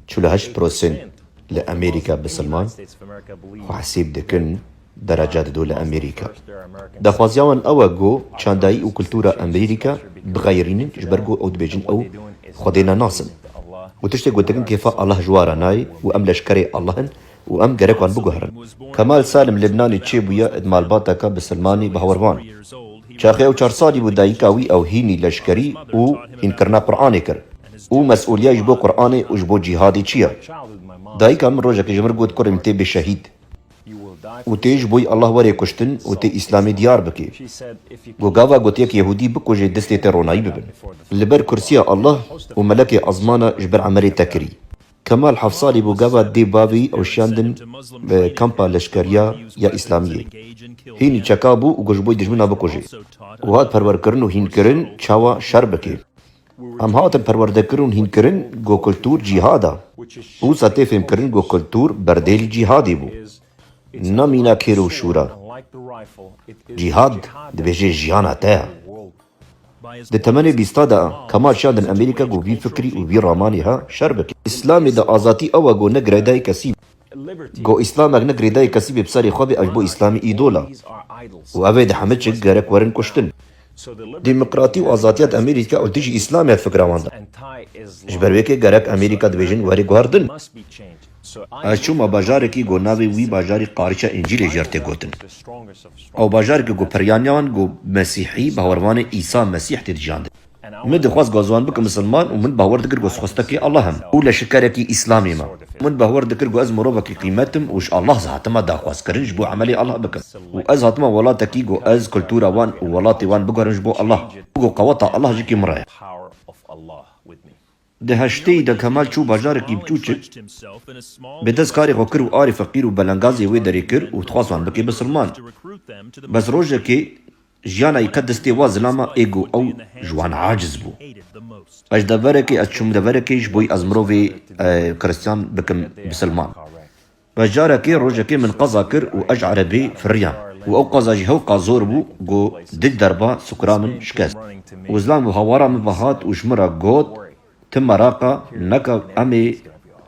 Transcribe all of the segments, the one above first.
Çil û heşt prosent li Amerîka bisilman xwe hesîb dikin dereca dido li Amerîka. Daxwaziya wan ew e ku çandayî û kultura Amerîka bixeyirînin ji ber ku ew dibêjin ew Xwedê ne nasin. Û tiştê ku dikin kêfa Allah ji wa re nayê û em leşkerê Allah in, û em gerek wan biguherin. Kemal Salim li Bnanê çêbûye ed malbata ka bi Silmanî bi hawar van. Çaxê ew çar salî bû dayîka wî ew hînî leşkerî û hînkirina Quranê kir û mesulîya ji bo Quranê û ji bo cîhadê çi ye? Dayîka min rojekê ji min got kurê min tê bê şehîd û tê ji boî Allah were kuştin û tê Îslamê diyar bike. Ku gava gotiyek yehûdî bikuje distê te ronayî bibin. Li ber kursîya Allah û melekê ezmana ji ber Emelê te kirî. Kemal hevsalî bû gava dê bavî ew şiyandin bi kampa leşkeriya ya îslamiyê. Hînî çeka bû û got ji bo dijmina bikujê. Û hat perwerkirin û hînkirin çawa şer bike. Em hatin perwerdekirin û hînkirin ku kultur cîhad a. Wisa tê fêmkirin ku kultur berdêlî cîhadê bû. Na mîna kêr û şûr a. Cîhad dibêje jiyana te ya. Di temenê bîsta de Kemal şandin Emerîka ku vî fikrî û vî ramanî he şer bike. Îslamê de azatî ew e ku ne girêdayê kesî be. Ku îslamek ne girêdayê kesî bê bi serê xwe bê ev ji bo îslamî îdol e û ew ê di heme çik gerek werin kuştin. Demokratî û azatiya di Emerîka û dijî îslamê de fikra wan de. Ji ber wê ke gerek Emerîka dibêjin were guherdin. Ez çûma bajarekî ku navê wî bajarî Qariça Încîlê jî ya tê gotin. Ew bajareke ku peryaniyan ku mesîhî bawervanê Îsa Mesîh tê dijandin. Min dixwest ku ez wan bikim misilman û min bawer dikir ku ez xwestekî Allah im û leşikerekî Îslamî me. Min bawer dikir ku ez mirovekî qîmet im û ji Allah zî hatima daxwazkirin ji bo emelê Allah bikim û ez hatima welatekî ku ez kultura wan û welatê wan biguherim ji bo Allah û ku qeweta Allah ji kî min re ye. Di heşteyî de Kemal çû bajarekî biçûçik, bi dest karê xwe kir û arê feqîr û belengazê wê derê kir û dixwaz wan bike bisrman. Bes rojekê jiyana yê qet destê wa zilama ê ku ew ji wan aciz bû. Ez deverekê ez çûm deverekê ji bo ez mirovê Kristyan bikim bisilman. Bajarekê rojekê min qeza kir û ez ji erebeyê firiyam û ew qeza jî hewqa zor bû ku dik derba sukura min şikest. Wizlan bû hawara min ve hat û ji min re got, Ti meraqa neke em ê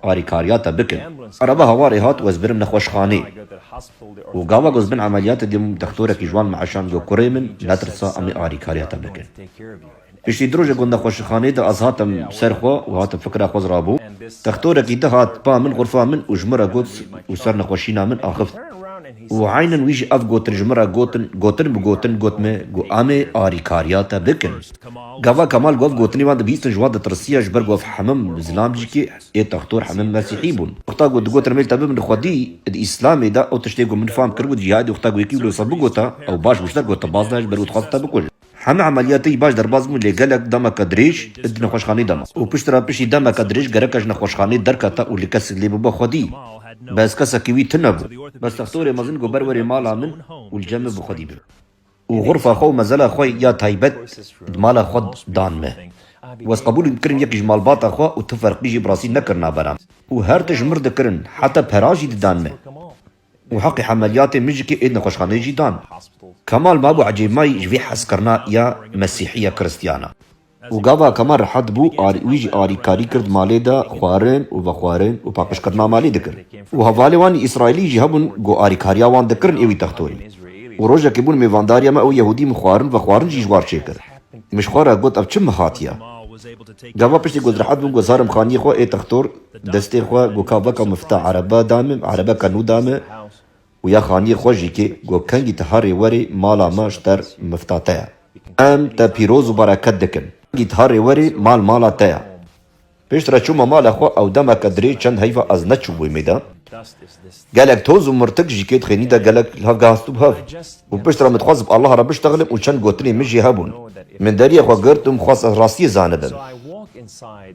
alîkariya te bikin. Erebe hawarê hat û ez birim nexweşxaneyê û gava ku ez bin emeliyatê dibûm dextorekî ji wan min eşand got, Kurê min netirsa em ê alîkariya te bikin. Piştî di roja ku di xweşixaneyê de ez hatim ser xwe û hatim fikra xwe zirabû, textorekî di hat ba min xurfa min û ji min re got û ser nexweşîna min axift û eynen wî jî ev gotin ji min re gotin gotin bi gotin got me ku emê arîkariya te bikin. Gava Kemal ku ev gotinê wan dibîstin ji wan ditirisiya ji ber ku ev hemim zlamcikê ê textor hemim mesîhî bûn. Wexta ku digotin emê li te bibin xwedî di îslamê de ew tiştê ku min fam kir ku di cîhadê wexta ku yekî wilo wisa bigota ew baş wişter got te baz nayê ji ber ku dixwazin te bikujin. Heme emeliyatê yî baş derbas bûn lê gelek demeke dirêj di nexweşxaneyê de ma û piştre piştî demeke dirêj gereke ji nexweşxaneyê derkete û li kesik lê bibe xwedî bi ez kesekî wî tune bû. Bes textorê mezin ku ber werê mala min û li cem min bi xwedî bibe û xurfa xwe û mezela xwe ya taybet di mala xwe dan min û ez qebûl kirin yekî ji malbata xwe û tu ferqî jî bi rastî nekirina bera min û her tişt mir dikirin heta pera jî didan min û heqê hemeliyatên mijikê ê nexweşxaneyê jî dan. Kemal mabû ecêbmayî ji vê hezkirina ya mesîhiya kiristiyana. Û gava Kemal rehet bû, wî jî alîkarî kir di malê de xwarin û vexwarin û paqijkirina malê dikir. Û hevalên wan ê Îsraîlî jî hebûn ku alîkariya wan dikirin ê wî textorî. Û rojekê bûn mêvandariya me û Yehûdî min xwarin vexwarin jî ji war çêkir. Min ji xwe re got ev çi mihatiya? Gava piştî ku ez rehet bûm ku zarm xaniyê xwe ê textor destê xwe ku ka veka mifta erebe da min, erebeke nû da min û ya xaniyê xwe jî kê ku kengî ti herê werê mala me ji ter mifta te ya. Em te pîroz û bereket dikin. Kengî ti herê werê mal mala te ya. Piştre çûma mala xwe ew demeke dirê çend heyva ez neçûbûyim êde. Gelek toz û mirtik ji kê dixênî de gelek li hev gehastibû hev û piştre min dixwest bi Allaha re biştexilim û çend gotinên min jî hebûn. Min deriyê xwe girt û min xwest ez rastiyê zanibim.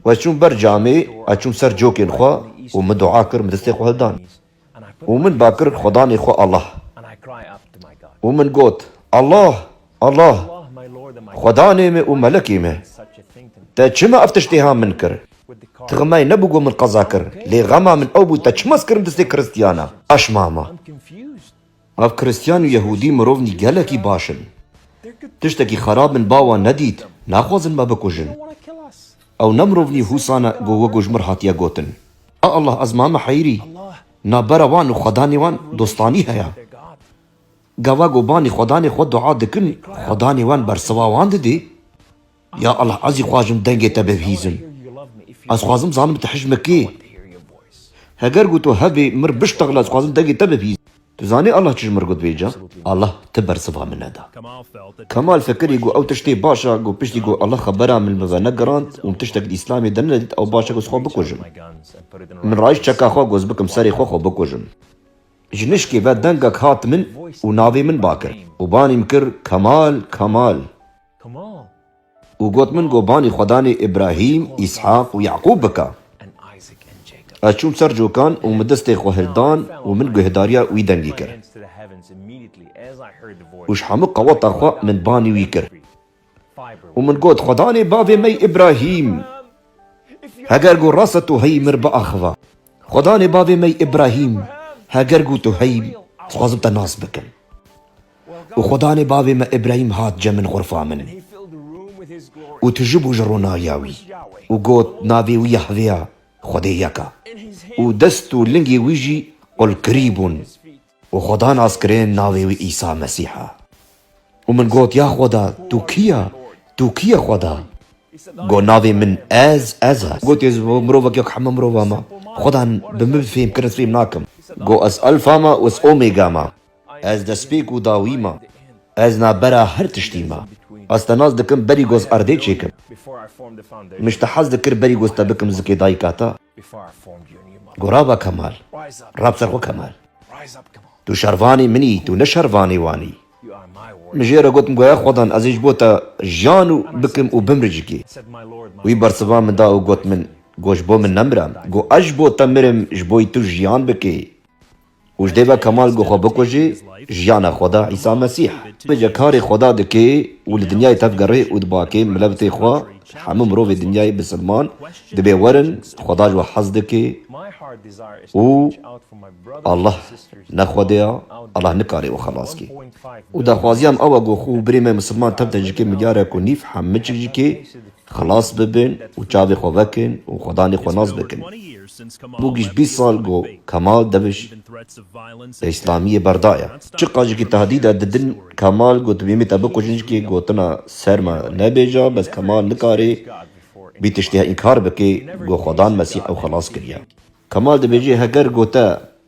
We çûm ber camê, ez çûm ser cokên xwe û min dua kir min distê xwe hildan. Û min ba kir Xwedanê xwe Allah. Û min got, Allah! Allah! Xwedanê me û melekê me! Te çima ev tiştê ha min kir? Tixmay nebû ku min qeza kir, lê xema min ew bû te çima ez kirim distê kiristiyana? Eşmama. Nav Kristyan û Yehûdî mirovnî gelekî baş in. Tiştekî xerab min ba wan nedît, naxwazin me bikujin. Ew ne mirovnî hûsan e ku wek û ji mir hatiye gotin. A Allah ez mame heyrî, navbera wan û xwedanê wan dostanî heye. Gava ku banî xwedanê xwe dua dikin, xwedanê wan bersiva wan didê. Ya Allah ez jî xwajim dengê te bevhîzim. Ez xwazim zanim tu hijme kê. Heger ku tu hevê mir biştexile ez xwazim dengê te bevhîzim. Tu zanî Allah çi ji mir got vê ca? Allah ti bersiva min neda. Kemal fikirî ku ew tiştê baş e ku piştî ku Allah xebera min min ve negirand û min tiştek li Îslamê de nedît ew baş e ku ez xwe bikujim. Min rayîşt çeka xwe ku ez bikim serê xwe xwe bikujim. Ji nişkê ve dengek hat min û navê min ba kir û banî min kir Kemal Kemal. Û got, Min gobanî Xwedanê Îbrahîm, Îshaq û Yaqûb bike. Ez çûm ser cokan û min destê xwe hil dan û min guhdarîya wî dengî kir. Û ji hemû qeweta xwe min banî wî kir. Û min got, Xwedanê bavê me Îbrahîm, heger ku rast e tu heyî min biaxive. Xwedanê bavê me Îbrahîm, heger ku tu heyî, dixwazim te nas bikim. Û Xudanê bavê me Îbrahîm hat cem min xurfa min û tijibû ji ronahiya wî û got, Navê wî Yahvê ya, Xwedê yek a. Û dest û lingê wî jî qulkirî bûn. Û Xuda nas kirin navê wî Îsa Mesîh a. Û min got, Ya Xuda, tu kî ya? Tu kî ye Xuda? Got, Navê min Ez, Ez a. Got, Ez mirovek wek heme mirovan me. Xuda bi min fêm kirin ez fêm nakim. Got, Ez Elfa me û ez Omega me. Ez despêk û dawî ma. Ez navbera her tiştî ma. Ez te nas dikim berî goz erdê çêkim. Min ji te hez dikir berî goz te bikim zikê dayika te. Gorava Kemal, ra bi ser xwe Kemal. Tu şervanê min î, tu ne şervanê wan î. Min jê re got Mgoya Xwedan ez ê ji bo te jiyan û bikim û bimri cikê. Wî bersiva min da û got min, Go ji bo min nemira, go ez ji bo te mirim ji bo yî tu jiyan bikê. Û ji dê ve Kemal ku xwe bikujî, jiyana xwe da Îsa Mesîh. Bêje karê Xweda dikê û li dinyayê tevgerê û dibakê milevtê xwe, hemû mirovê dinyayê bi silman dibê werin, Xweda ji we hez dikê û Allah ne Xwedê ya, Allah nikarê we xelas kê. Û daxwaziya me ew e ku xwe û birê me misilman tevde jikê milyarek û nîv hemmiçik jikê Xilas bibin û çavê xwe vekin û xwedanê xwe nas bikin. Bû giş bîst sal ku Kemal Deviş bi îslamiyê berdaye. Çi qajikî tehdîde didin Kemal ku tu bêmî te bikujin ji kê gotina ser me nebêje bes Kemal nikarê bî tiştî inkar bike ku xwedan Mesîh ew xilas kiriye. Kemal dibêje heger ku te